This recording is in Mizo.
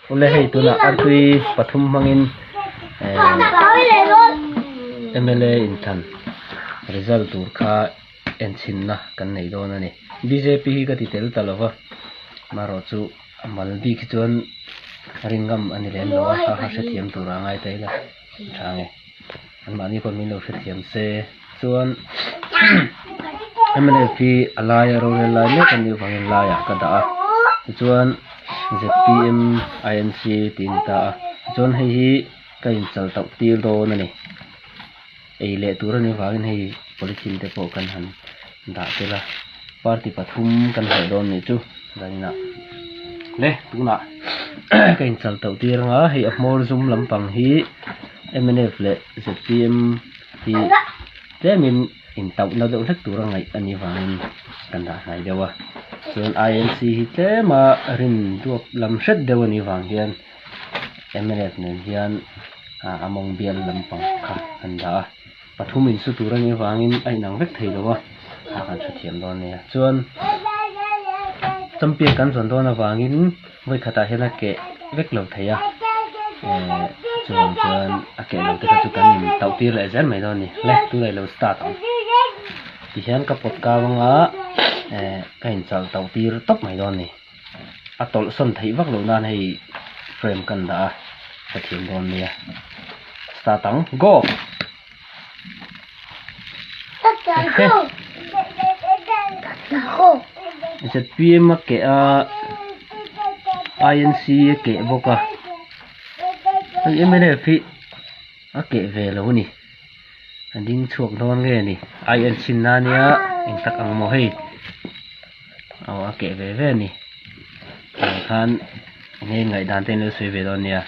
Khawle hei tunah Artui pathum hmangin MLA inthan result tur kha enchhinna kan nei dawn a ni. Bjp hi ka ti tel ta lo va, marawh chu Malbik hi chuan ringam a ni lem lo a, a hrethiam tur a ngai ta ila. Chhang e, anmahni pawh min lo hrethiam se. Chuan mlp a laia rohrel lai mek a nih avangin laiah ka dah a, tichuan zpm inc tiin ka ta a, tichuan hei hi ka inchal tauh tir dawn a ni, ei leh tur a nih avangin hei polythene te pawh kan han-- Dah tel a, party pathum kan haih dawn nih chu Zaina le tunah ka in chal tauh tir ang a, hei a Hmawrzum lampang hi mnf leh zpm hi tlemin in tauh na deuh hlek tur a ngaih a nih vangin kan dah hnai deuh a, chuan INC hi tlema rin duak lam hret deuh a nih vang hian mnf nen hian a mawng bial lampang kha kan dah a. Pathum in su tur a nih avangin a inang vek thei lo a, a kan hre thiam dawn nia. Chuan champion kan zawn dawn avangin vawikhatah hian a keh vek lo thei a, chuvang chuan a keh lo te kha chu kan in tauh tir leh zel mai dawn ni. Le tun a ilo start ang tihian ka pawt kau anga ka in chal tauh tir tawp mai dawn ni. A tawlhsawn theih vak lo nan hei frame kan dah a, ka thiam dawn mai a, start ang go! Zpm a keh a, inc a keh bawk a, hei mlf hi a keh ve lo a ni, a ding chhuak dawn nge ni, inc nan nia engtak ang maw hei. Aw a keh ve ve a ni. Hei khan enge ngaihdan te in lo sawi ve dawn nia.